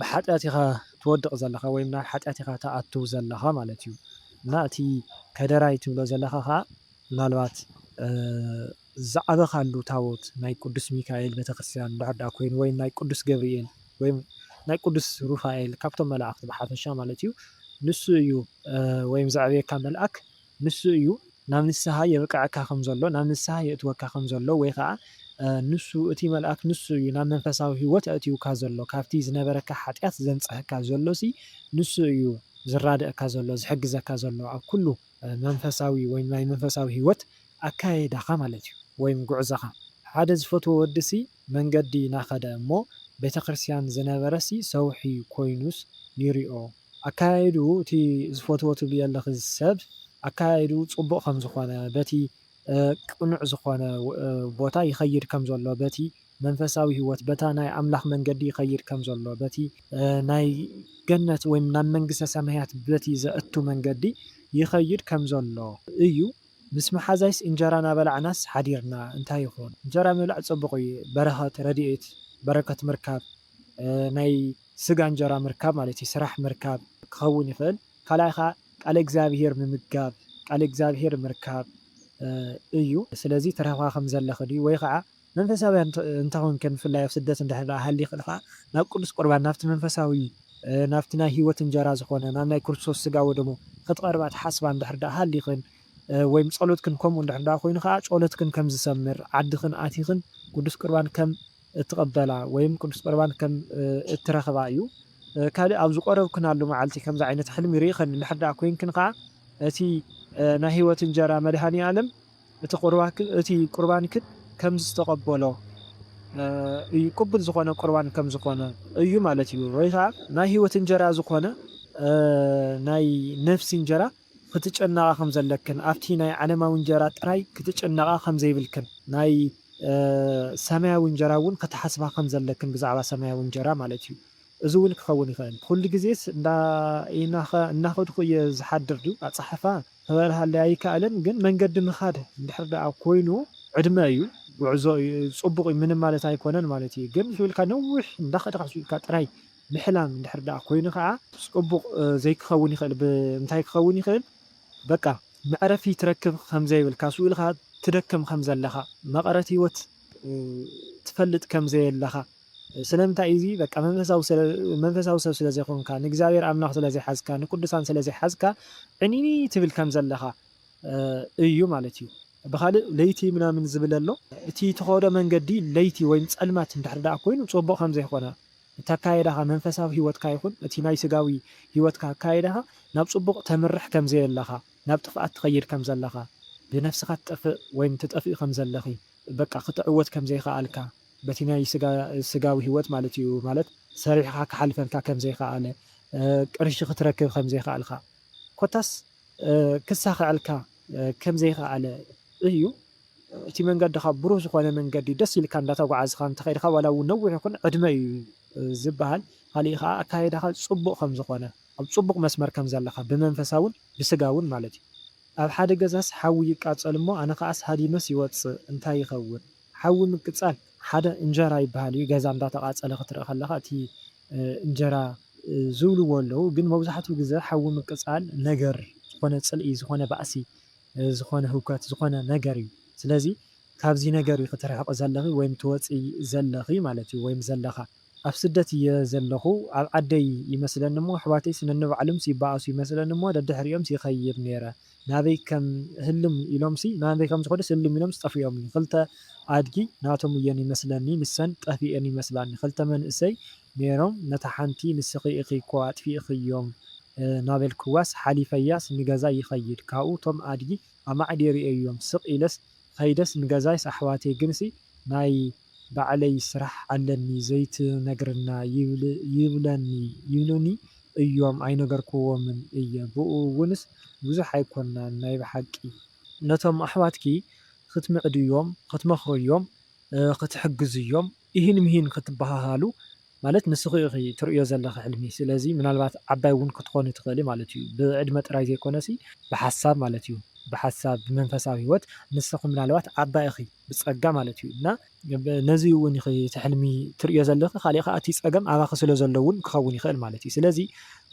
ብሓጢኣት ኢኻ ትወድቕ ዘለኻ ወይም ናብ ሓጢኣት ኢኻ ትኣቱ ዘለኻ ማለት እዩ። እና እቲ ከደራይ ትብሎ ዘለኻ ከኣ ምናልባት ዝዓበኻሉ ታቦት ናይ ቅዱስ ሚካኤል ቤተክርስትያን እንድሕር ደኣ ኮይኑ ወይም ናይ ቅዱስ ገብርኤል ወይም ናይ ቅዱስ ሩፋኤል ካብቶም መላእኽቲ ብሓፈሻ ማለት እዩ ንሱ እዩ ወይም ዘዕብየካ መልኣክ ንሱ እዩ ናብ ንስሓ የብቅዐካ ከም ዘሎ፣ ናብ ንስሓ የእትወካ ከም ዘሎ፣ ወይ ኸኣ ንሱ፣ እቲ መልኣክ ንሱ እዩ ናብ መንፈሳዊ ህይወት ኣእትዩካ ዘሎ፣ ካብቲ ዝነበረካ ሓጢኣት ዘንጽሀካ ዘሎሲ ንሱ እዩ ዝራድኣካ ዘሎ፣ ዝሕግዘካ ዘሎ ኣብ ኩሉ። መንፈሳዊ ወይም ናይ መንፈሳዊ ህይወት ኣካያይዳኻ ማለት እዩ፣ ወይም ጉዕዞኻ። ሓደ ዝፈትዎ ወዲሲ መንገዲ ናኸደ እሞ ቤተክርስትያን ዝነበረሲ ሰውሒ ኮይኑስ ይሪኦ ኣከያይድኡ እቲ ዝፈትዎ ትብልዮ ኣለኺ ሰብ ኣከያይድኡ ጽቡቕ ከም ዝኾነ በቲ ቅኑዕ ዝኾነ ቦታ ይኸይድ ከም ዘሎ በቲ መንፈሳዊ ህይወት በታ ናይ ኣምላኽ መንገዲ ይኸይድ ከም ዘሎ በቲ ናይ ገነት ወይ ናብ መንግስተ ሰማያት በቲ ዘእቱ መንገዲ ይኸይድ ከም ዘሎ እዩ ምስ መሓዛይስ እንጀራ ናበላዕናስ ሓዲርና እንታይ ይኹን እንጀራ ምብላዕ ጽቡቕ እዩ በረኸት ረድኤት በረከት ምርካብ ናይ ስጋ እንጀራ ምርካብ ማለት እዩ ስራሕ ምርካብ ክኸውን ይኽእል ካልኣይ ኸኣ ቃለ እግዚኣብሄር ምምጋብ ቃለ እግዚኣብሄር ምርካብ እዩ ስለዚ ትረኽባ ከም ዘለኺ ድዩ ወይ ኸኣ መንፈሳውያን እንተ ኾንክን ብፍላይ ኣብ ስደት እንድሕር ደኣ ሃሊኽን ኸኣ ናብ ቅዱስ ቁርባን ናብቲ መንፈሳዊ ናብቲ ናይ ህይወት እንጀራ ዝኾነ ናብ ናይ ክርስቶስ ስጋ ወደሙ ክትቐርባ ትሓስባ እንድሕር ደኣ ሃሊኽን ወይም ጸሎትክን ከምኡ እንድሕር ደኣ ኮይኑ ኸኣ ጾሎትክን ከም ዝሰምር ዓድኽን ኣቲኽን ቅዱስ ቁርባን ከም እትቐበላ ወይም ቅዱስ ቁርባን ከም እትረኽባ እዩ። ካልእ ኣብ ዝቆረብክናሉ መዓልቲ ከምዚ ዓይነት ሕልሚ ርኢኽን እንድሕር ደኣ ኮይንክን ከኣ እቲ ናይ ሕይወት እንጀራ መድኃኔ ዓለም እቲ ቁርባንክን ከም ዝተቐበሎ እዩ ቅቡል ዝኾነ ቁርባን ከም ዝኾነ እዩ ማለት እዩ ወይ ከኣ ናይ ሕይወት እንጀራ ዝኾነ ናይ ነፍሲ እንጀራ ኽትጨነቓ ኸም ዘለክን ኣብቲ ናይ ዓለማዊ እንጀራ ጥራይ ክትጨነቓ ኸም ዘይብልክን ናይ ሰማያዊ እንጀራ እውን ክትሓስባ ኸም ዘለክን ብዛዕባ ሰማያዊ እንጀራ ማለት እዩ እዚ እውን ክኸውን ይኽእል ኹሉ ግዜስ እንዳ ኢናኸ እናኸድኹ እየ ዝሓድር ድዩ ኣጻሕፋ ክበርሃለይ ኣይካኣልን ግን መንገዲ ምኻድ እንድሕር ደኣ ኮይኑ ዕድመ እዩ ጉዕዞ እዩ ጽቡቕ እዩ ምንም ማለት ኣይኮነን ማለት እዩ ግን ሒውልካ ነዊሕ እንዳኸድካ ሒውልካ ጥራይ ምሕላም እንድሕር ደኣ ኮይኑ ከኣ ጽቡቕ ዘይክኸውን ይኽእል ብምንታይ ክኸውን ይኽእል በቃ መዕረፊ ትረክብ ከምዘይብልካ ስኡ ኢልካ ትደክም ከምዘለኻ መቐረት ህይወት ትፈልጥ ከምዘየለኻ ስለምንታይ እዚ በቃ መንፈሳዊ ሰብ ስለዘይኮንካ ንእግዚኣብሔር ኣምላኽ ስለዘይሓዝካ ንቅዱሳን ስለዘይሓዝካ ዕንይንይ ትብል ከምዘለኻ እዩ ማለት እዩ ብኻልእ ለይቲ ምናምን ዝብል ኣሎ እቲ ትኸዶ መንገዲ ለይቲ ወይም ጸልማት እንድሕር ደኣ ኮይኑ ጽቡቕ ከምዘይኮነ እቲ ኣካያይዳኻ መንፈሳዊ ህይወትካ ይኹን እቲ ናይ ስጋዊ ህይወትካ ኣካያይዳኻ ናብ ጽቡቕ ተምርሕ ከም ዘየለኻ ናብ ጥፍኣት ትኸይድ ከም ዘለኻ ብነፍስኻ ትጠፍእ ወይም ትጠፍኢ ከም ዘለኺ በቃ ክትዕወት ከም ዘይኸኣልካ በቲ ናይ ስጋ ስጋዊ ህይወት ማለት እዩ ማለት ሰሪሕኻ ክሓልፈልካ ከም ዘይኸኣለ ቅርሺ ክትረክብ ከም ዘይኸኣልካ ኮታስ ክሳኸዐልካ ከምዘይኸኣለ እዩ። እቲ መንገድኻ ብሩህ ዝኾነ መንገዲ ደስ ኢልካ እንዳተጓዓዝኻ እንተኸድካ ዋላ እውን ነዊሕ ይኹን ዕድመ እዩ ዝበሃል። ካሊእ ኸዓ ኣካይዳኻ ፅቡቕ ከምዝኾነ ኣብ ፅቡቕ መስመር ከምዘለኻ ብመንፈሳውን ብስጋውን ማለት እዩ። ኣብ ሓደ ገዛስ ሓዊ ይቃፀል እሞ ኣነ ኸዓስ ሃዲመስ ይወፅእ እንታይ ይኸውን? ሓዊ ምቅፃል ሓደ እንጀራ ይበሃል እዩ ገዛ እንዳተቓፀለ ክትርኢ ከለኻ እቲ እንጀራ ዝብልዎ ኣለዉ ግን መብዛሕትኡ ግዘ ሓዊ ምቅፃል ነገር ዝኾነ ፅልኢ ዝኾነ ባእሲ ዝኾነ ህውከት ዝኾነ ነገር እዩ ስለዚ ካብዚ ነገር ኢኺ ትርሕቒ ዘለኺ ወይም ትወፂ ዘለኺ ማለት እዩ ወይም ዘለኻ። ኣብ ስደት እየ ዘለኹ ኣብ ዓደይ ይመስለኒ እሞ ኣሕዋተይስ ነንባዕሉምስ ይባኣሱ ይመስለኒ እሞ ደድሕሪኦምስ ይኸይድ ነይረ ናበይ ከም ህልም ኢሎምሲ ናበይ ከም ዝኸዱስ ህልም ኢሎምሲ ጠፊኦምኒ ክልተ ኣድጊ ናቶም እየን ይመስለኒ ንሰን ጠፊኤን ይመስላኒ ክልተ መንእሰይ ኔሮም ነታ ሓንቲ ንስኺ ኢኺ እኮ ኣጥፊእኽዮም ናበልክዋስ ሓሊፈያስ ንገዛይ ይኸይድ ካብኡ እቶም ኣድጊ ኣማዕዲየ ሪኤዮም ስቕ ኢለስ ኸይደስ ንገዛይስ ኣሕዋተይ ግንሲ ናይ ባዕለይ ስራሕ ኣለኒ ዘይትነግርና ይብለኒ ይብሉኒ እዮም ኣይነገርክዎምን እየ ብኡ እውንስ ብዙሕ ኣይኮናን ናይ ብሓቂ። ነቶም ኣሕዋትኪ ክትምዕድዮም ክትመኽርዮም ክትሕግዝዮም ኢሂን ምሂን ክትበሃሃሉ ማለት ንስኺ ኢኺ ትርእዮ ዘለኺ ሕልሚ ስለዚ ምናልባት ዓባይ እውን ክትኾኒ ትኽእሊ ማለት እዩ ብዕድመ ጥራይ ዘይኮነሲ ብሓሳብ ማለት እዩ ብሓሳብ ብመንፈሳዊ ህይወት ንስኺ ምናልባት ዓባይ ኢኺ ብጸጋ ማለት እዩ እና ነዚ እውን ኢኺ እቲ ሕልሚ ትርእዮ ዘለኺ ካሊእ ከኣ እቲ ጸገም ኣባኺ ስለ ዘሎ እውን ክኸውን ይኽእል ማለት እዩ ስለዚ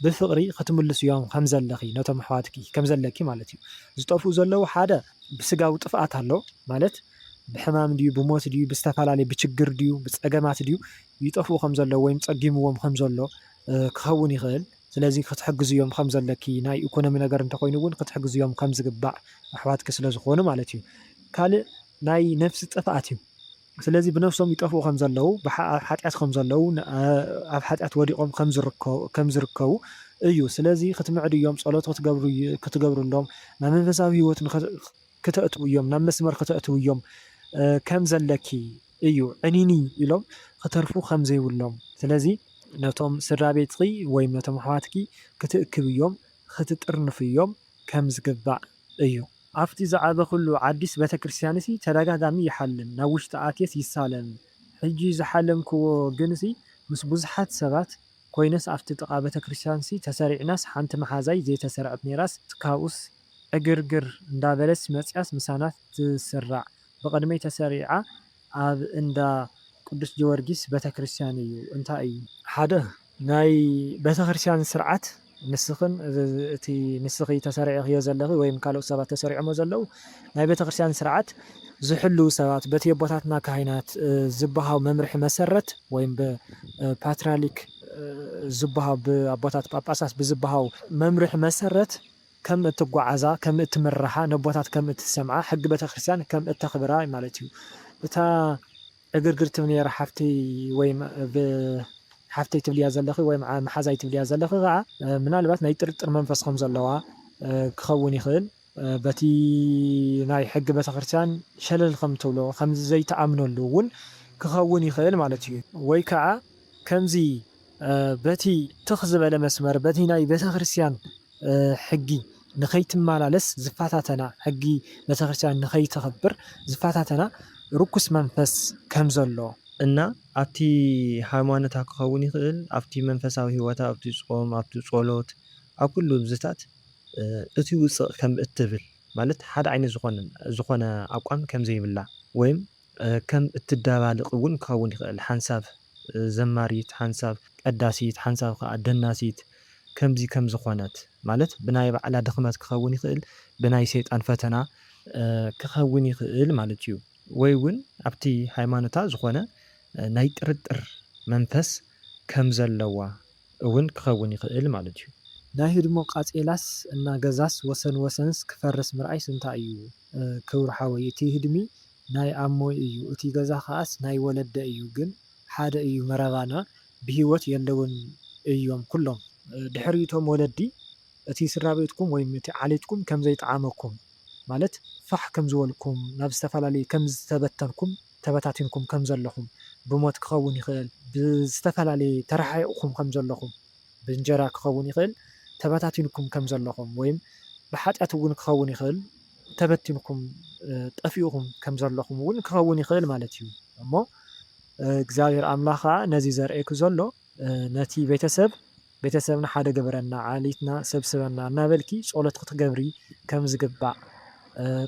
ብፍቕሪ ክትምልስዮም ከም ዘለኺ ነቶም ኣሕዋትኪ ከም ዘለኪ ማለት እዩ ዝጠፍኡ ዘለዉ ሓደ ብስጋዊ ጥፍኣት ኣሎ ማለት ብሕማም ድዩ ብሞት ድዩ ብዝተፈላለየ ብችግር ድዩ ብፀገማት ድዩ ይጠፍኡ ከም ዘለዉ ወይም ፀጊምዎም ከም ዘሎ ክኸውን ይኽእል ስለዚ ክትሕግዝዮም ከም ዘለኪ ናይ ኢኮኖሚ ነገር እንተኾይኑ እውን ክትሕግዝዮም ከም ዝግባእ ኣሕዋትኪ ስለ ዝኾኑ ማለት እዩ ካልእ ናይ ነፍሲ ጥፍኣት እዩ ስለዚ ብነፍሶም ይጠፍኡ ከም ዘለዉ፣ ኣብ ሓጢኣት ከም ዘለዉ፣ ኣብ ሓጢኣት ወዲቖም ከም ዝርከቡ እዩ። ስለዚ ክትምዕድዮም፣ ጸሎት ክትገብርሎም፣ ናብ መንፈሳዊ ህይወት ክተእትውዮም፣ ናብ መስመር ክተእትውዮም ከም ዘለኪ እዩ። ዕኒኒ ኢሎም ክተርፉ ከም ዘይብሎም። ስለዚ ነቶም ስድራቤትኪ ወይ ነቶም ኣሕዋትኪ ክትእክብዮም፣ ክትጥርንፍዮም ከም ዝግባእ። እዩ። ኣብቲ ዝዓበኹሉ ዓዲስ ቤተክርስትያንሲ ተደጋጋሚ ይሓልም፣ ናብ ውሽጢ ኣትየስ ይሳለም። ሕጂ ዝሓለምክዎ ግንሲ ምስ ብዙሓት ሰባት ኮይነስ ኣብቲ ጥቓ ቤተክርስትያንሲ ተሰሪዕናስ ሓንቲ መሓዛይ ዘይተሰርዐት ነይራስ ካብኡስ ዕግርግር እንዳበለትስ መጺኣስ ምሳና ትስራዕ ብቕድመይ ተሰሪዓ ኣብ እንዳ ቅዱስ ጀወርጊስ ቤተክርስትያን እዩ። እንታይ እዩ። ሓደ ናይ ቤተክርስቲያን ስርዓት ንስኽን እቲ ንስኺ ተሰሪዕኽዮ ዘለኺ ወይም ካልኦት ሰባት ተሰሪዖሞ ዘለዉ ናይ ቤተክርስቲያን ስርዓት ዝሕልዉ ሰባት በቲ የቦታትና ካህናት ዝብሃው መምርሒ መሰረት ወይም ብፓትራሊክ ዝብሃው ብኣቦታት ጳጳሳት ብዝብሃው መምርሒ መሰረት ከም እትጓዓዛ ከም እትምርሓ ነቦታት ከም እትሰምዓ ሕጊ ቤተክርስቲያን ከም እተኽብራ ማለት እዩ እታ ዕግርግር ትብሊ ነይራ ሓፍትይ ወይ ብ ሓፍተይ ትብልያ ዘለኺ ወይ ብ መሓዛይ ትብልያ ዘለኺ ከኣ ምናልባት ናይ ጥርጥር መንፈስ ከም ዘለዋ ክኸውን ይኽእል በቲ ናይ ሕጊ ቤተክርስትያን ሸለል ከም ትብሎ ከምዚ ዘይትኣምነሉ ውን ክኸውን ይኽእል ማለት እዩ ወይ ከኣ ከምዚ በቲ ትኽ ዝበለ መስመር በቲ ናይ ቤተክርስትያን ሕጊ ንኸይትመላለስ ዝፈታተና፣ ሕጊ ቤተክርስትያን ንኸይተኽብር ዝፈታተና ርኩስ መንፈስ ከም ዘሎ፣ እና ኣብቲ ሃይማኖታ ክኸውን ይኽእል፣ ኣብቲ መንፈሳዊ ሕይወታ፣ ኣብቲ ጾም፣ ኣብቲ ጸሎት፣ ኣብ ኩሉ እዚታት እቲ ውጽእ ከም እትብል ማለት ሓደ ዓይነት ዝኾነ ኣቋም ከም ዘይብላ ወይም ከም እትደባልቕ እውን ክኸውን ይኽእል፣ ሓንሳብ ዘማሪት፣ ሓንሳብ ቀዳሲት፣ ሓንሳብ ኸኣ ደናሲት ከምዚ ከም ዝዀነት፣ ማለት ብናይ ባዕላ ድኽመት ክኸውን ይኽእል፣ ብናይ ሰይጣን ፈተና፣ ክኸውን ይኽእል ማለት እዩ፣ ወይ እውን ኣብቲ ሃይማኖታ ዝዀነ ናይ ጥርጥር መንፈስ ከም ዘለዋ እውን ክኸውን ይኽእል ማለት እዩ። ናይ ህድሞ ቃጼላስ እና ገዛስ ወሰን ወሰንስ ክፈርስ ምርኣይስ እንታይ እዩ ክብሩ ሓወይ እቲ ህድሚ ናይ ኣሞይ እዩ እቲ ገዛ ከኣስ ናይ ወለደይ እዩ ግን ሓደ እዩ መረባና ብሂወት የለውን እዮም ኩሎም ድሕሪ እቶም ወለዲ እቲ ስድራቤትኩም ወይም እቲ ዓሌትኩም ከምዘይጠዓመኩም ማለት ፋሕ ከምዝበልኩም ናብ ዝተፈላለየ ከምዝተበተንኩም ተበታቲንኩም ከም ዘለኹም፣ ብሞት ክኸውን ይኽእል፣ ብዝተፈላለየ ተረሓሒቕኩም ከም ዘለኹም፣ ብእንጀራ ክኸውን ይኽእል ተበታቲንኩም ከም ዘለኹም፣ ወይም ብሓጢኣት እውን ክኸውን ይኽእል ተበቲንኩም፣ ጠፊኡኩም፣ ከም ዘለኹም እውን ክኸውን ይኽእል ማለት እዩ። እሞ እግዚኣብሄር ኣምላኽ ከኣ ነዚ ዘርእየኪ ዘሎ ነቲ ቤተሰብ፣ ቤተሰብና ሓደ ግበረና፣ ዓሌትና ሰብስበና እናበልኪ ጸሎት ክትገብሪ ከም ዝግባእ፣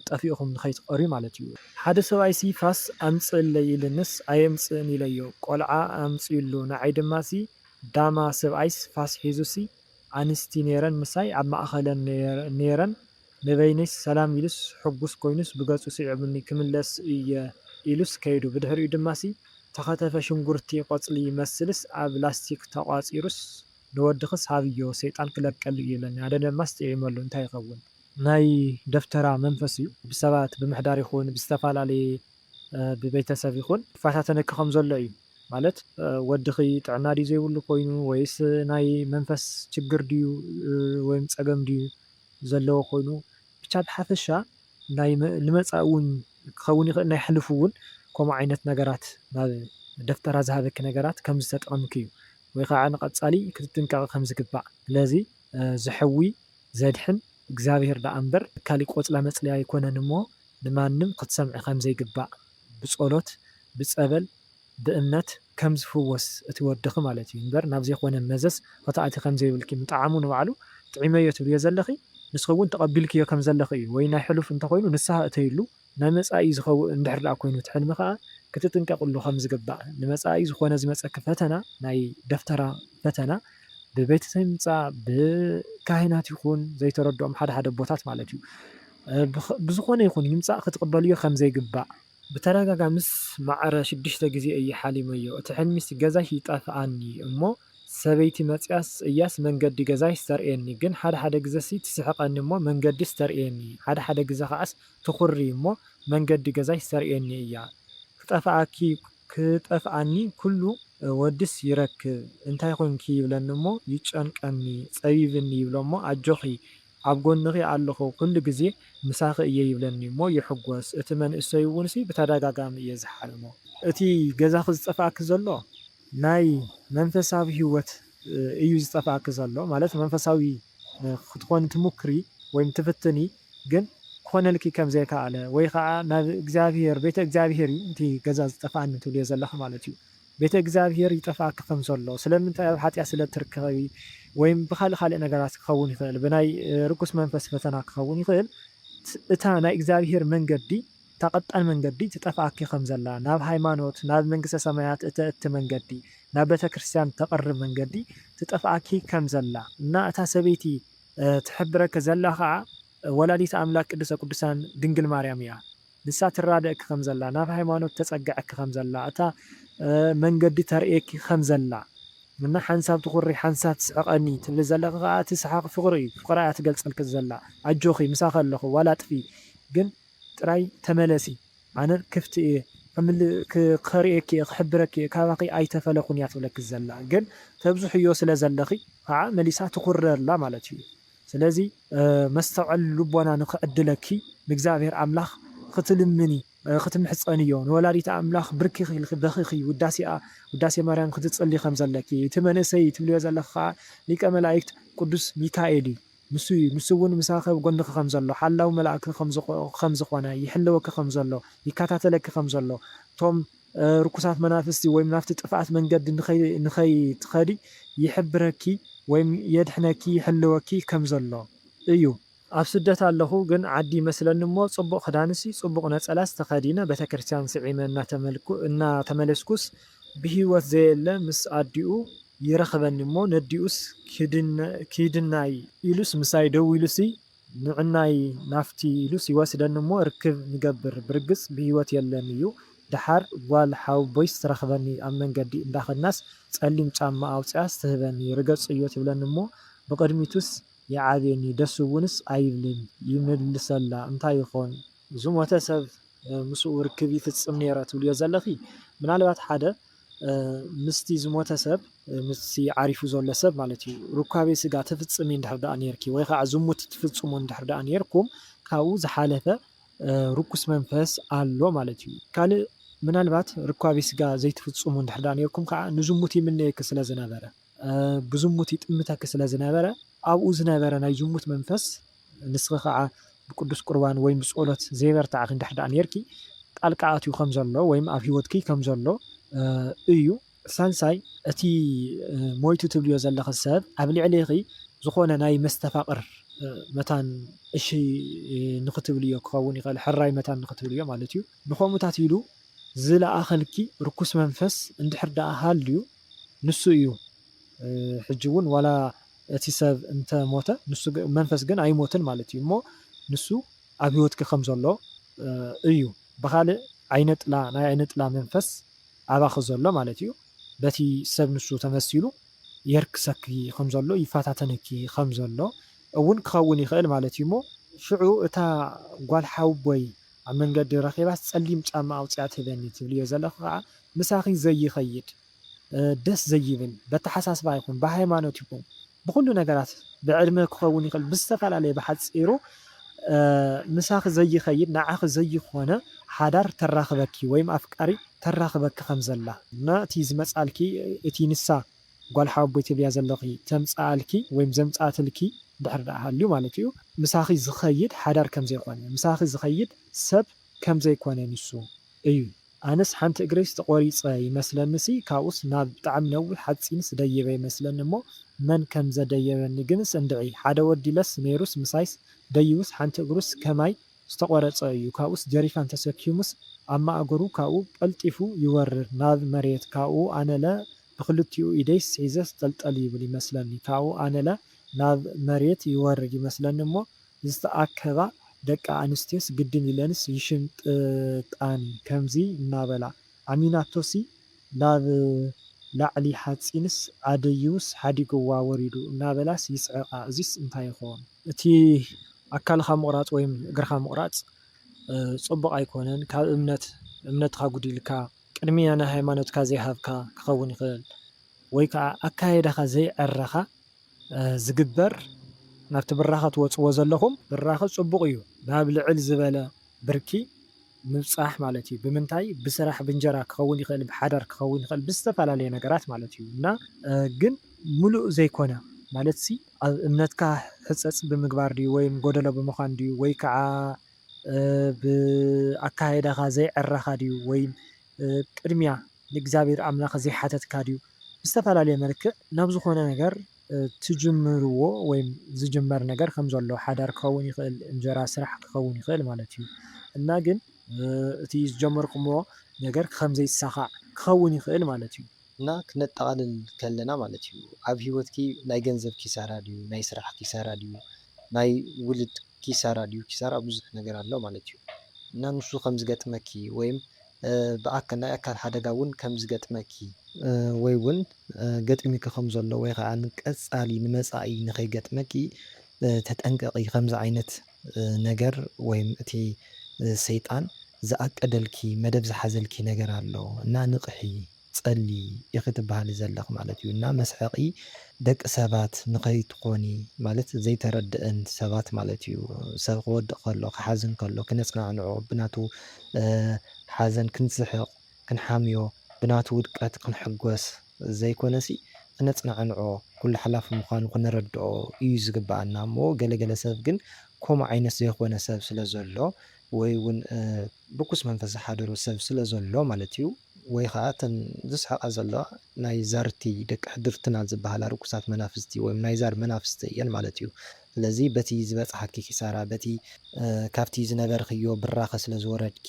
ጠፊእኹም ንኸይትቐርዩ ማለት እዩ። ሓደ ሰብኣይሲ ፋስ ኣምጽእለይ ኢሉንስ ኣየምጽእን ኢለዮ፣ ቆልዓ ኣምጺኡሉ፣ ንዓይ ድማሲ ዳማ፣ ሰብኣይስ ፋስ ሒዙሲ ኣንስቲ ነይረን ምሳይ ኣብ ማእከለን ነይረን፣ ንበይነይስ ሰላም ኢሉስ ሕጉስ ኮይኑስ ብገጹ ስዒቡኒ ክምለስ እየ ኢሉስ ከይዱ ብድሕሪኡ ድማሲ ተኸተፈ ሽንጉርቲ ቆጽሊ ይመስልስ ኣብ ላስቲክ ተቋጺሩስ ንወድኽስ ሃብዮ ሰይጣን ክለቀሉ እዩ ኢሉኒ ኣነ ደማስ ጥዒመሉ እንታይ ይኸውን ናይ ደፍተራ መንፈስ እዩ ብሰባት ብምሕዳር ይኹን ብዝተፋላለየ ብቤተሰብ ይኹን ይፋታተነኪ ከም ዘሎ እዩ ማለት ወድኺ ጥዕና ድዩ ዘይብሉ ኮይኑ ወይስ ናይ መንፈስ ችግር ድዩ ወይም ጸገም ድዩ ዘለዎ ኮይኑ ብቻ ብሓፈሻ ናይ ልመጻኢ ውን ክከውን ይክእል ናይ ሕሉፉ ውን ከምኡ ዓይነት ነገራት ናብ ደፍተራ ዝሃበኪ ነገራት ከም ዝተጠቀምኪ እዩ ወይ ካዓ ንቀጻሊ ክትጥንቀቂ ከም ዝግባእ ስለዚ ዝሐዊ ዘድሕን እግዚኣብሔር ዳኣ እምበር ካሊእ ቆጽላ መጽልያ ኣይኮነን እሞ ንማንም ክትሰምዒ ከም ዘይግባእ ብጾሎት ብጸበል ብእምነት ከም ዝፍወስ እቲ ወድኺ ማለት እዩ እንበር ናብ ዘይኮነ መዘዝ ኽትኣትዪ ከም ዘይብልኪ ምጥዓሙ ንባዕሉ ጥዒመዮ ትብልዮ ዘለኺ ንስኺ እውን ተቐቢልክዮ ከም ዘለኺ እዩ ወይ ናይ ሕሉፍ እንተ ኾይኑ ንስሃ እተይሉ ናይ መጻኢ ዝኸውእ እንድሕር ደኣ ኮይኑ እቲ ሕልሚ ከኣ ክትጥንቀቕሉ ከም ዝግባእ ንመጻኢ ዝኾነ ዝመጸኪ ፈተና ናይ ደፍተራ ፈተና ብቤተሰብ ይምጻእ ብካህናት ይኹን ዘይተረድኦም ሓደ ሓደ ኣቦታት ማለት እዩ ብዝኾነ ይኹን ይምጻእ ክትቕበልዮ ከም ዘይግባእ ብተደጋጋምስ ማዕረ ሽዱሽተ ግዜ እየ ሓሊመዮ እቲ ሕልሚስ ገዛይ ይጠፍኣኒ እሞ ሰበይቲ መጺያስ እያስ መንገዲ ገዛይስ ተርእየኒ ግን ሓደ ሓደ ግዘሲ ትስሕቀኒ እሞ መንገዲስ ተርእየኒ ሓደ ሓደ ግዘ ከኣስ ትኹሪ እሞ መንገዲ ገዛይስ ተርእየኒ እያ ክጠፍኣኪ ክጠፍኣኒ ኩሉ ወድስ ይረክብ እንታይ ኮንኪ ይብለኒ እሞ ይጨንቀኒ ጸቢብኒ ይብሎ እሞ ኣጆኺ ኣብ ጎንኺ ኣለኹ ኩሉ ግዜ ምሳኺ እየ ይብለኒ እሞ ይሕጎስ እቲ መንእሰይ እውንሲ ብተዳጋጋሚ እየ ዝሓልሞ። እቲ ገዛኺ ዝጠፍኣኪ ዘሎ ናይ መንፈሳዊ ሂወት እዩ ዝጠፍኣኪ ዘሎ ማለት መንፈሳዊ ክትኮኒ ትሙክሪ ወይም ትፍትኒ ግን ክኾነልኪ ከም ዘይካኣለ ወይ ካኣ ናብ እግዚኣብሄር ቤተ እግዚኣብሄር እዩ እቲ ገዛ ዝጠፍኣኒ ትብልዮ ዘለኺ ማለት እዩ ቤተ እግዚኣብሔር ይጠፍኣኪ ከም ዘሎ ስለምንታይ ኣብ ሓጢኣት ስለ እትርከቢ ወይም ብካልእ ካልእ ነገራት ክኸውን ይኽእል ብናይ ርኩስ መንፈስ ፈተና ክኸውን ይኽእል እታ ናይ እግዚኣብሔር መንገዲ እታ ቀጣን መንገዲ ትጠፍኣኪ ከም ዘላ ናብ ሃይማኖት ናብ መንግስተ ሰማያት እተእቲ መንገዲ ናብ ቤተክርስትያን እተቅርብ መንገዲ ትጠፍኣኪ ከም ዘላ እና እታ ሰበይቲ ትሕብረኪ ዘላ ከኣ ወላዲተ ኣምላክ ቅድስተ ቅዱሳን ድንግል ማርያም እያ። ንሳ ትራደእኪ ከም ዘላ፣ ናብ ሃይማኖት ተጸግዐኪ ከም ዘላ፣ እታ መንገዲ ተርእየኪ ከም ዘላ እና ሓንሳብ ትኹሪ ሓንሳብ ትስሕቐኒ ትብሊ ዘለኺ ከኣ እቲ ሰሓቕ ፍቕሪ እዩ። ፍቕራ እያ ትገልጸልኪ ዘላ። ኣጆኺ ምሳኺ ኣለኹ ዋላ ጥፊ ግን ጥራይ ተመለሲ ኣነ ክፍቲ እየ ከርእየኪ እየ ክሕብረኪ እየ ካባኺ ኣይተፈለኹን እያ ትብለኪ ዘላ ግን ተብዝሕዮ ስለ ዘለኺ ከኣ መሊሳ ትኹሪ ኣላ ማለት እዩ። ስለዚ። መስተውዐል ልቦና ንክዕድለኪ ንእግዚኣብሔር ኣምላኽ ክትልምኒ ክትምሕጸንዮ ንወላዲተ ኣምላኽ ብርኪ ኢልኪ በኺኺ ውዳሴኣ ውዳሴ ማርያም ክትጽሊ ከም ዘለኪ እቲ መንእሰይ ትብልዮ ዘለኺ ከኣ ሊቀ መላእክት ቅዱስ ሚካኤል እዩ ንሱ እዩ ንሱ እውን ምሳኺ ኣብ ጎንኺ ከም ዘሎ ሓላዊ መልኣክኪ ከም ዝኾነ ይሕልወኪ ከም ዘሎ ይከታተለኪ ከም ዘሎ እቶም ርኩሳት መናፍስቲ ወይም ናብቲ ጥፍኣት መንገዲ ንኸይትኸዲ ይሕብረኪ ወይም የድሕነኪ ይሕልወኪ ከም ዘሎ እዩ። ኣብ ስደት ኣለኹ ግን ዓዲ ይመስለኒ እሞ ጽቡቕ ክዳንሲ ጽቡቕ ነጸላስ ተኸዲነ ቤተክርስትያን ስዒመ እናተመለስኩስ ብህይወት ዘየለ ምስ ኣዲኡ ይረኽበኒ እሞ ነዲኡስ ኪድናይ ኢሉስ ምሳይ ደው ኢሉሲ ንዕናይ ናፍቲ ኢሉስ ይወስደኒ እሞ ርክብ ንገብር ብርግጽ ብሂወት የለን እዩ ደሓር ጓል ሓወቦይስ ትረኽበኒ ኣብ መንገዲ እንዳኸድናስ ጸሊም ጫማ ኣውጺኣስ ትህበኒ ርገጽዮ ትብለኒ እሞ ብቕድሚቱስ ይዓብየኒ ደስ እውንስ ኣይብልን ይምልሰላ እንታይ ይኾን ዝሞተ ሰብ ምስኡ ርክብ ይፍጽም ኔረ ትብልዮ ዘለኺ ምናልባት ሓደ ምስቲ ዝሞተ ሰብ፣ ምስቲ ዓሪፉ ዘሎ ሰብ ማለት እዩ፣ ርኳቤ ስጋ ተፍጽሚ እንድሕር ደኣ ኔርኪ ወይ ኸኣ ዝሙት ትፍጽሙ እንድሕር ደኣ ኔርኩም ካብኡ ዝሓለፈ ርኩስ መንፈስ ኣሎ ማለት እዩ። ካልእ ምናልባት ርኳቤ ስጋ ዘይትፍጽሙ እንድሕር ደኣ ኔርኩም ከኣ ንዝሙት ይምነየኪ ስለ ዝነበረ፣ ብዝሙት ይጥምተኪ ስለ ዝነበረ፣ ኣብኡ ዝነበረ ናይ ዝሙት መንፈስ፣ ንስኺ ኸኣ ብቅዱስ ቍርባን ወይም ብጸሎት ዘይበርታዕኪ እንድሕር ደኣ ኔርኪ፣ ጣልቃ ኣትዩ ከም ዘሎ ወይም ኣብ ህይወትኪ ከም ዘሎ እዩ። ሳልሳይ፣ እቲ ሞይቱ ትብልዮ ዘለኺ ሰብ ኣብ ልዕሌኺ ዝኾነ ናይ መስተፋቕር መታን እሺ ንኽትብልዮ ክኸውን ይኽእል፣ ሕራይ መታን ንኽትብልዮ ማለት እዩ። ንኸምኡታት ኢሉ ዝለኣኸልኪ ርኩስ መንፈስ እንድሕር ደኣ ሃልዩ፣ ንሱ እዩ ሕጂ ውን ዋላ እቲ ሰብ እንተ ሞተ ንሱ መንፈስ ግን ኣይሞትን ማለት እዩ እሞ ንሱ ኣብ ሂወትኪ ከም ዘሎ እዩ ብኻልእ ዓይነ ጥላ ናይ ዓይነ ጥላ መንፈስ ኣባኺ ዘሎ ማለት እዩ በቲ ሰብ ንሱ ተመሲሉ የርክሰኪ ከም ዘሎ ይፈታተነኪ ከም ዘሎ እውን ክኸውን ይኽእል ማለት እዩ እሞ ሽዑ እታ ጓል ሓውቦይ ኣብ መንገዲ ረኺባስ ጸሊም ጫማ ኣውጺኣ ትህበኒ ትብልዮ ዘለኺ ከኣ ምሳኺ ዘይኸይድ ደስ ዘይብል በተሓሳስባ ይኹን ብሃይማኖት ይኹን ብኹሉ ነገራት ብዕድመ ክኸውን ይኽእል ብዝተፈላለየ ብሓጺሩ ምሳኺ ዘይኸይድ ንዓኺ ዘይኾነ ሓዳር ተራኽበኪ ወይም ኣፍቃሪ ተራኽበኪ ከም ዘላ እና እቲ ዝመጻልኪ እቲ ንሳ ጓል ሓወቦይ ትብልያ ዘለኺ ተምጽኣልኪ ወይም ዘምጽኣትልኪ ድሕሪ ድኣ ሃልዩ ማለት እዩ ምሳኺ ዝኸይድ ሓዳር ከም ዘይኮነ ምሳኺ ዝኸይድ ሰብ ከም ዘይኮነ ንሱ እዩ ኣነስ ሓንቲ እግረይስ ተቆሪጸ ይመስለኒሲ ካብኡስ ናብ ብጣዕሚ ነዊሕ ሓጺንስ ደይበ ይመስለኒ እሞ መን ከምዘደየበኒ ግንስ እንድዒ ሓደ ወዲለስ ነይሩስ ምሳይስ ደይቡስ ሓንቲ እግሩስ ከማይ ዝተቆረጸ እዩ ካብኡስ ጀሪካን ተሰኪሙስ ኣብ ማእገሩ ካብኡ ቀልጢፉ ይወርድ ናብ መሬት ካብኡ ኣነለ ብክልቲኡ ኢደይስ ሒዘስ ጠልጠል ይብል ይመስለኒ ካብኡ ኣነለ ናብ መሬት ይወርድ ይመስለኒ እሞ ዝተኣከባ ደቂ ኣንስትዮስ ግድን ኢለንስ ይሽምጥጣኒ ከምዚ እናበላ ዓሚናቶሲ ናብ ላዕሊ ሓጺንስ ኣደይውስ ሓዲጉዋ ወሪዱ እናበላስ ይስዕቃ እዚስ እንታይ ይኾን። እቲ ኣካልኻ ምቑራጽ ወይም እግርኻ ምቑራጽ ጽቡቕ ኣይኮነን ካብ እምነት እምነትኻ ጉዲልካ ቅድሚያ ንሃይማኖትካ ዘይሃብካ ክኸውን ይኽእል ወይ ከኣ ኣካይዳኻ ዘይዕረኻ ዝግበር ናብቲ ብራኸ ትወጽዎ ዘለኹም ብራኸ ጽቡቕ እዩ ናብ ልዕል ዝበለ ብርኪ ምብጻሕ ማለት እዩ ብምንታይ ብስራሕ ብእንጀራ ክኸውን ይኽእል ብሓዳር ክኸውን ይኽእል ብዝተፈላለየ ነገራት ማለት እዩ እና ግን ምሉእ ዘይኮነ ማለትሲ ኣብ እምነትካ ሕጸጽ ብምግባር ድዩ ወይም ጎደሎ ብምዃን ድዩ ወይ ከዓ ብ ኣካይዳኻ ዘይዕረኻ ድዩ ወይም ቅድሚያ ንእግዚኣብሔር ኣምላኽ ዘይሓተትካ ድዩ ብዝተፈላለየ መልክዕ ናብ ዝኾነ ነገር ትጅምርዎ ወይም ዝጅመር ነገር ከም ዘሎ ሓዳር ክኸውን ይኽእል እንጀራ ስራሕ ክኸውን ይኽእል ማለት እዩ እና ግን እቲ ዝጀመርኩሞ ነገር ከም ዘይሳኻዕ ክኸውን ይኽእል ማለት እዩ። እና ክነጠቓልል ከለና ማለት እዩ ኣብ ሂወትኪ ናይ ገንዘብ ኪሳራ ድዩ ናይ ስራሕ ኪሳራ ድዩ ናይ ውልድ ኪሳራ ድዩ ኪሳራ ብዙሕ ነገር ኣሎ ማለት እዩ እና ንሱ ከም ዝገጥመኪ ወይም ብኣካል ናይ ኣካል ሓደጋ እውን ከም ዝገጥመኪ፣ ወይ እውን ገጢሙኪ ከም ዘሎ ወይ ከዓ ንቀፃሊ ንመፃኢ ንከይገጥመኪ ተጠንቀቂ ከምዚ ዓይነት ነገር ወይም እቲ ሰይጣን ዝኣቀደልኪ መደብ ዝሓዘልኪ ነገር ኣሎ እና ንቅሒ። ጸሊ ኢኺ ትብሃሊ ዘለኺ ማለት እዩ እና መስሐቂ ደቂ ሰባት ንኸይትኾኒ ማለት ዘይተረደእን ሰባት ማለት እዩ ሰብ ክወድቅ ከሎ ክሓዝን ከሎ ክነጽናዕንዖ ብናቱ ሓዘን ክንስሕቅ ክንሓምዮ ብናቱ ውድቀት ክንሕጎስ ዘይኮነሲ ክነጽናዕንዖ ኩሉ ሓላፊ ምዃኑ ክንረድኦ እዩ ዝግብኣና እሞ ገለ ገለ ሰብ ግን ኮምኡ ዓይነት ዘይኾነ ሰብ ስለ ዘሎ ወይ ውን ርኩስ መንፈስ ዝሓደሮ ሰብ ስለ ዘሎ ማለት እዩ ወይ ኸኣ እተን ዝስሕቓ ዘለዋ ናይ ዛርቲ ደቂ ሕድርትና ዝበሃላ ርኩሳት መናፍስቲ ወይም ናይ ዛር መናፍስቲ እየን ማለት እዩ። ስለዚ በቲ ዝበጽሓኪ ኪሳራ በቲ ካብቲ ዝነበርኽዮ ብራኸ ስለ ዝወረድኪ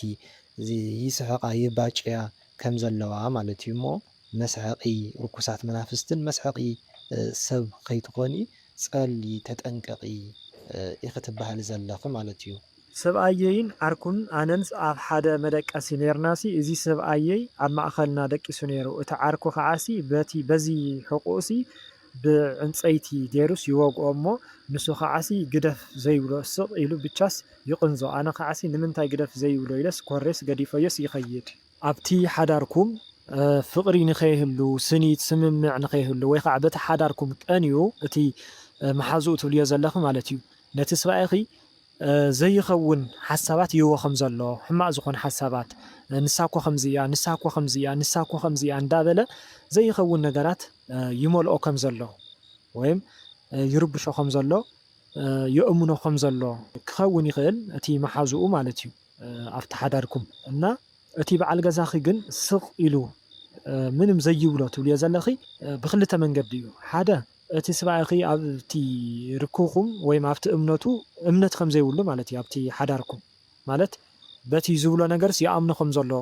ይስሕቓ ይባጭያ ከም ዘለዋ ማለት እዩ እሞ መስሐቒ ርኩሳት መናፍስትን መስሐቒ ሰብ ከይትኾኒ ጸልዪ ተጠንቀቒ ኢኺ ትበሃሊ ዘለኺ ማለት እዩ። ሰብኣየይን ዓርኩን ኣነንስ ኣብ ሓደ መደቀሲ ኔርናሲ እዚ ሰብኣየይ ኣብ ማእኸልና ደቂሱ ኔሩ እቲ ዓርኩ ከዓሲ በቲ በዚ ሕቁኡሲ ብዕንጸይቲ ጌሩስ ይወግኦ እሞ ንሱ ከዓሲ ግደፍ ዘይብሎ ስቅ ኢሉ ብቻስ ይቅንዞ ኣነ ከዓሲ ንምንታይ ግደፍ ዘይብሎ ኢለስ ኮሬስ ገዲፈዮስ ይከይድ ኣብቲ ሓዳርኩም ፍቕሪ ንኸይህሉ፣ ስኒት፣ ስምምዕ ንኸይህሉ ወይ ኸዓ በቲ ሓዳርኩም ቀንዩ እቲ መሓዝኡ ትብልዮ ዘለኺ ማለት እዩ ነቲ ስባኤኺ ዘይኸውን ሓሳባት ይህቦ ከም ዘሎ ሕማቕ ዝኾነ ሓሳባት ንሳ እኮ ከምዚ እያ ንሳ እኮ ከምዚ እያ ንሳ እኮ ከምዚ እያ እንዳበለ ዘይኸውን ነገራት ይመልኦ ከም ዘሎ ወይም ይርብሾ ከም ዘሎ የእምኖ ከም ዘሎ ክኸውን ይኽእል እቲ መሓዝኡ ማለት እዩ። ኣብቲ ሓዳርኩም እና እቲ በዓል ገዛኺ ግን ስቕ ኢሉ ምንም ዘይብሎ ትብልዮ ዘለኺ ብኽልተ መንገዲ እዩ ሓደ እቲ ስባኣይኺ ኣብቲ ርክብኹም ወይም ኣብቲ እምነቱ እምነት ከምዘይብሉ ማለት እዩ ኣብቲ ሓዳርኩም ማለት በቲ ዝብሎ ነገርስ ይኣምኖ ከምዘሎ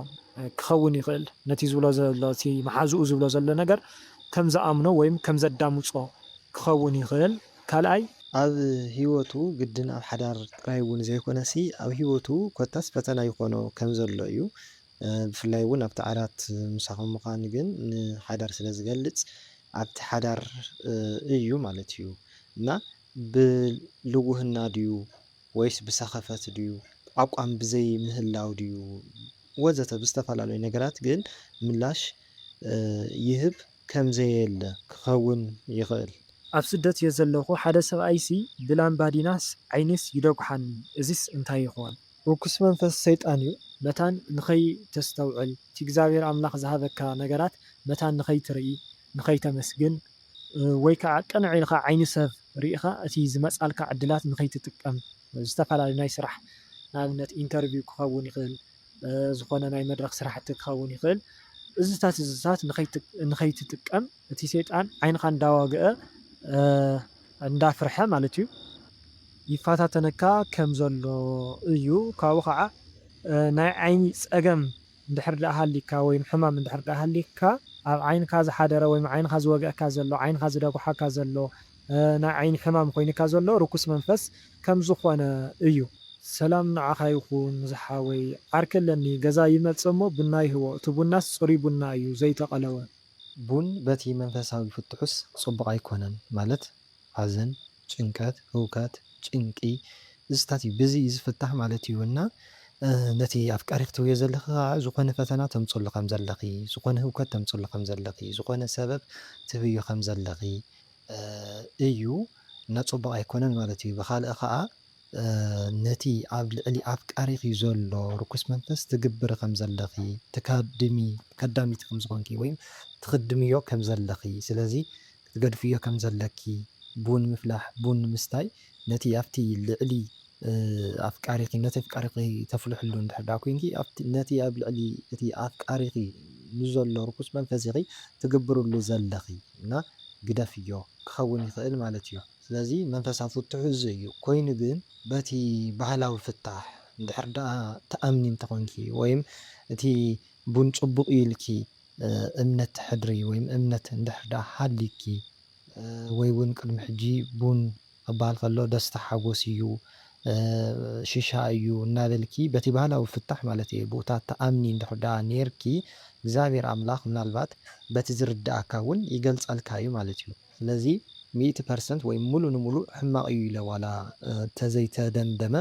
ክኸውን ይኽእል ነቲ ዝብሎ ዘሎ እቲ መሓዝኡ ዝብሎ ዘሎ ነገር ከምዝኣምኖ ወይም ከምዘዳምጾ ክኸውን ይኽእል ካልኣይ፣ ኣብ ህይወቱ ግድን ኣብ ሓዳር ጥራይ እውን ዘይኮነሲ ኣብ ህይወቱ ኮታስ ፈተና ይኾኖ ከም ዘሎ እዩ። ብፍላይ እውን ኣብቲ ዓራት ምሳኹም ምዃን ግን ንሓዳር ስለ ዝገልጽ ኣብቲ ሓዳር እዩ ማለት እዩ እና ብልውህና ድዩ ወይስ ብሰኸፈት ድዩ ኣቋም ብዘይ ምህላው ድዩ ወዘተ ብዝተፈላለዩ ነገራት ግን ምላሽ ይህብ ከምዘየለ ክኸውን ይኽእል። ኣብ ስደት እየ ዘለኹ፣ ሓደ ሰብኣይሲ ብላምባዲናስ ዓይኒስ ይደጉሓኒ፣ እዚስ እንታይ ይኾን? ርኩስ መንፈስ ሰይጣን እዩ። መታን ንኸይተስተውዕል፣ እቲ እግዚኣብሄር ኣምላኽ ዝሃበካ ነገራት መታን ንኸይትርኢ፣ ንኸይተመስግን፣ ወይ ከኣ ቅንዕ ኢልካ ዓይኒ ሰብ ርኢኻ እቲ ዝመጻልካ ዕድላት ንኸይትጥቀም፣ ዝተፈላለዩ ናይ ስራሕ ንኣብነት ኢንተርቪው ክኸውን ይኽእል፣ ዝኾነ ናይ መድረኽ ስራሕቲ ክኸውን ይኽእል እዚታት እዚታት ንኸይትጥቀም እቲ ሰይጣን ዓይንኻ እንዳዋግአ እንዳፍርሐ ማለት እዩ ይፈታተነካ ከም ዘሎ እዩ ካብኡ ከዓ ናይ ዓይኒ ፀገም እንድሕር ደኣ ሃልይካ ወይም ሕማም እንድሕር ደኣ ሃልይካ ኣብ ዓይንካ ዝሓደረ ወይም ዓይንኻ ዝወግኣካ ዘሎ ዓይንኻ ዝደጉሓካ ዘሎ ናይ ዓይኒ ሕማም ኮይንካ ዘሎ ርኩስ መንፈስ ከም ዝኮነ እዩ። ሰላም ንዓኻ ይኹን ዝሓወይ ዓርኪ ኣለኒ ገዛ ይመጽእ እሞ ቡና ይህቦ እቲ ቡናስ ጽሩይ ቡና እዩ ዘይተቀለወ። ቡን በቲ መንፈሳዊ ፍትሑስ ጽቡቅ ኣይኮነን ማለት ሓዘን ጭንቀት ህውከት ጭንቂ ዝስታት እዩ ብዚ እዩ ዝፍታሕ ማለት እዩ እና ነቲ ኣፍቃሪ ክትህብዮ ዘለኺ ከኣ ዝኮነ ፈተና ተምጽሉ ከም ዘለኺ ዝኮነ ህውከት ተምጽሉ ከም ዘለኺ ዝኮነ ሰበብ ትህብዮ ከም ዘለኺ እዩ ነጽቡቕ ኣይኮነን ማለት እዩ ብኻልእ ኸኣ ነቲ ኣብ ልዕሊ ኣፍቃሪኺ ዘሎ ርኩስ መንፈስ ትግብሪ ከም ዘለኺ ትካድሚ ከዳሚት ከም ዝኾንኪ ወይ ትኽድምዮ ከም ዘለኺ ስለዚ ክትገድፍዮ ከም ዘለኪ ቡን ምፍላሕ ቡን ምስታይ ነቲ ኣብቲ ልዕሊ ኣፍቃሪኺ ነቲ ኣፍቃሪኺ ተፍልሕሉ እንድሕር ደኣ ኲይንኪ ኣብቲ ነቲ ኣብ ልዕሊ እቲ ኣፍቃሪኺ ንዘሎ ርኹስ መንፈስ ኢኺ ትግብርሉ ዘለኺ እና ግደፍዮ ክኸውን ይኽእል ማለት እዩ። ስለዚ መንፈሳ ፍትሑ እዚ እዩ። ኮይኑ ግን በቲ ባህላዊ ፍታሕ እንድሕር ደኣ ትኣምኒ እንተኾንኪ ወይም እቲ ቡን ጽቡቕ እዩ ኢልኪ እምነት ተሕድሪ ወይም እምነት እንድሕር ደኣ ሃልዩኪ፣ ወይ ውን ቅድሚ ሕጂ ቡን ክበሃል ከሎ ደስታ ሓጎስ እዩ ሽሻ እዩ እናበልኪ በቲ ባህላዊ ፍታሕ ማለት እየ ቡታ ትኣምኒ እንድሕር ድኣ ኔርኪ እግዚኣብሔር ኣምላኽ ምናልባት በቲ ዝርድኣካ ውን ይገልጸልካ እዩ ማለት እዩ ስለዚ ሚእቲ ፐርሰንት ወይ ሙሉ ንሙሉእ ሕማቕ እዩ ኢለ ዋላ ተዘይተደምደመ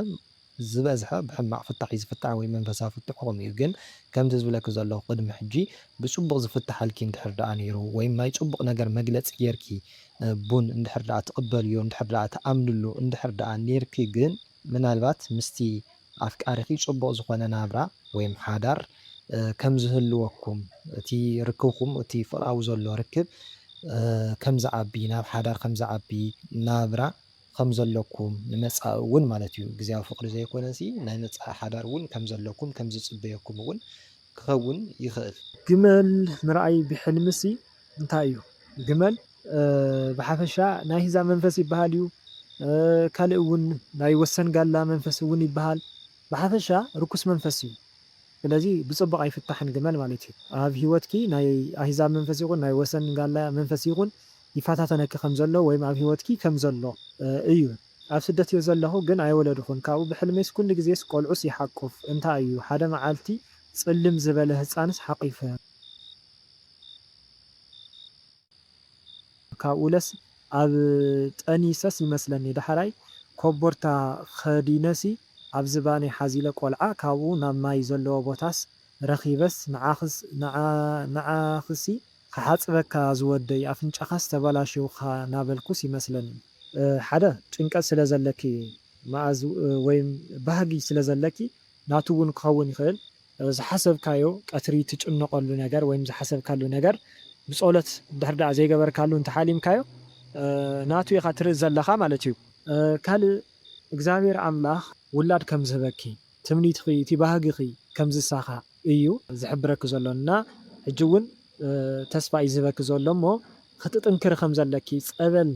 ዝበዝሐ ብሕማቕ ፍታሕ እዩ ዝፍታሕ ወይ መንፈሳዊ ፍትሕኹም እዩ ግን ከምዚ ዝብለኪ ዘለኹ ቅድሚ ሕጂ ብጽቡቕ ዝፍታሓልኪ እንድሕር ደኣ ኔሩ ወይም ናይ ጽቡቕ ነገር መግለጺ ጌርኪ ቡን እንድሕር ደኣ ትቕበልዮ እንድሕር ደኣ ትኣምንሉ እንድሕር ደኣ ኔርኪ ግን ምናልባት ምስቲ ኣፍቃሪኺ ጽቡቕ ዝኾነ ናብራ ወይም ሓዳር ከም ዝህልወኩም እቲ ርክብኩም እቲ ፍቕራዊ ዘሎ ርክብ ከም ዝዓቢ ናብ ሓዳር ከም ዝዓቢ ናብራ ከም ዘለኩም ንመጻኢ እውን ማለት እዩ ግዝያዊ ፍቅሪ ዘይኮነሲ ናይ መጻኢ ሓዳር እውን ከም ዘለኩም ከም ዝጽበየኩም እውን ክከውን ይክእል። ግመል ምርኣይ ብሕልሚሲ እንታይ እዩ ግመል ብሓፈሻ ናይ ህዛ መንፈስ ይብሃል እዩ ካልእ እውን ናይ ወሰን ጋላ መንፈስ እውን ይብሃል ብሓፈሻ ርኩስ መንፈስ እዩ ስለዚ ብጽቡቅ ኣይፍታሕን ግመል ማለት እዩ ኣብ ሂወትኪ ናይ ኣህዛብ መንፈስ ይኩን ናይ ወሰን ጋላ መንፈስ ይኩን ይፈታተነኪ ከም ዘሎ ወይም ኣብ ሂወትኪ ከም ዘሎ እዩ ኣብ ስደት እየ ዘለኩ ግን ኣይወለድኩን ካብኡ ብሕልመይስ ኩሉ ግዜስ ቆልዑስ ይሓቁፍ እንታይ እዩ ሓደ መዓልቲ ጽልም ዝበለ ህጻንስ ሓቂፈ ካብኡለስ ኣብ ጠኒሰስ ይመስለኒ ዳሕራይ ኮቦርታ ከዲነሲ ኣብ ዝባነይ ሓዚለ ቆልዓ ካብኡ ናብ ማይ ዘለዎ ቦታስ ረኪበስ ንዓክስ ንዓክሲ ክሓጽበካ ዝወደይ ኣፍንጫኻስ ተባላሽውካ ናበልኩስ ይመስለኒ። ሓደ ጭንቀት ስለ ዘለኪ ማኣዝ ወይም ባህጊ ስለ ዘለኪ ናቱ ውን ክኸውን ይኽእል ዝሓሰብካዮ ቀትሪ ትጭነቐሉ ነገር ወይም ዝሓሰብካሉ ነገር ብጾሎት እንድሕር ዳኣ ዘይገበርካሉ እንተ ሓሊምካዮ ናቱ ኢኻ ትርኢ ዘለኻ ማለት እዩ። ካልእ እግዚኣብሔር ኣምላኽ ውላድ ከም ዝህበኪ ትምኒትኺ እቲ ባህግኺ ከም ዝሳኻዕ እዩ ዝሕብረኪ ዘሎ እና ሕጂ ውን ተስፋ እዩ ዝህበኪ ዘሎ እሞ ክትጥንክሪ ከም ዘለኪ ጸበል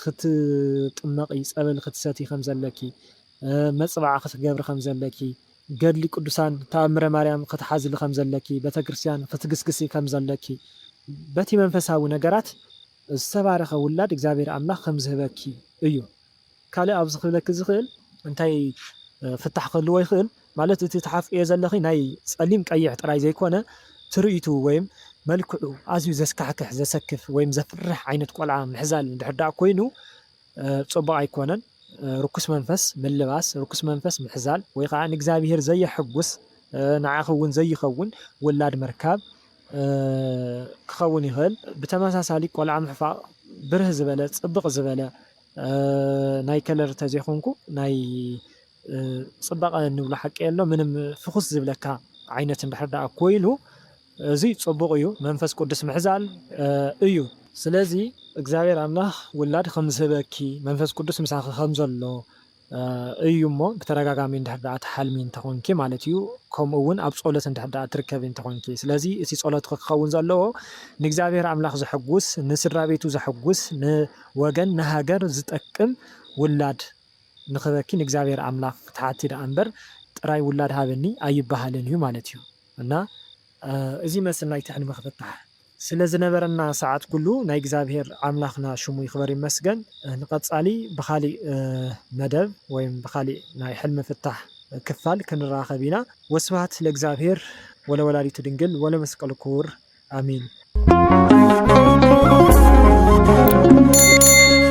ክትጥመቒ ጸበል ክትሰትዪ ከም ዘለኪ መጽብዓ ክትገብሪ ከም ዘለኪ ገድሊ ቅዱሳን ታኣምረ ማርያም ክትሓዝሊ ከም ዘለኪ ቤተክርስትያን ክትግስግሲ ከም ዘለኪ በቲ መንፈሳዊ ነገራት ዝተባረኸ ውላድ እግዚኣብሔር ኣምላኽ ከም ዝህበኪ እዩ ካልእ ኣብዚ ክብለኪ ዝኽእል እንታይ ፍታሕ ክህልዎ ይኽእል ማለት እቲ ትሓፍእዮ ዘለኺ ናይ ጸሊም ቀይሕ ጥራይ ዘይኮነ ትርኢቱ ወይም መልክዑ ኣዝዩ ዘስካሕክሕ ዘሰክፍ ወይም ዘፍርሕ ዓይነት ቆልዓ ምሕዛል እንድሕር ደኣ ኮይኑ ጽቡቕ ኣይኮነን ርኩስ መንፈስ ምልባስ ርኩስ መንፈስ ምሕዛል ወይ ከኣ ንእግዚኣብሄር ዘየሕጉስ ንዓኺ እውን ዘይኸውን ውላድ ምርካብ ክኸውን ይኽእል ብተመሳሳሊ ቆልዓ ምሕፋቕ ብርህ ዝበለ ጽብቕ ዝበለ ናይ ከለር ተዘይኮንኩ ናይ ፅባቀ ንብሎ ሓቂ የሎ ምንም ፍኩስ ዝብለካ ዓይነት እንድሕር ዳኣ ኮይኑ እዙይ ፅቡቅ እዩ መንፈስ ቁድስ ምሕዛል እዩ። ስለዚ እግዚኣብሔር ኣምላክ ውላድ ከምዝህበኪ መንፈስ ቁዱስ ምሳኪ ከምዘሎ እዩ እሞ ብተደጋጋሚ እንድሕር ደኣ ትሓልሚ እንተኾንኪ ማለት እዩ ከምኡ ውን ኣብ ጾሎት እንድሕር ደኣ ትርከቢ እንተኾንኪ ስለዚ እቲ ጾሎትኺ ክኸውን ዘለዎ ንእግዚኣብሔር ኣምላኽ ዘሐጉስ ንስድራቤቱ ዘሐጉስ ንወገን ንሃገር ዝጠቅም ውላድ ንኽበኪ ንእግዚኣብሔር ኣምላኽ ትሓቲ ደኣ እምበር ጥራይ ውላድ ሃበኒ ኣይበሃልን እዩ ማለት እዩ እና እዚ መስል ናይቲ ሕልሚ ክፍታሕ ስለ ዝነበረና ሰዓት ኩሉ ናይ እግዚኣብሔር ኣምላክና ሽሙ ይክበር ይመስገን ንቀጻሊ ብካሊእ መደብ ወይም ብካሊእ ናይ ሕልሚ ፍታሕ ክፋል ክንራከብ ኢና ወስብሃት ለእግዚኣብሔር ወለወላዲቱ ድንግል ወለመስቀሉ ክቡር ኣሜን።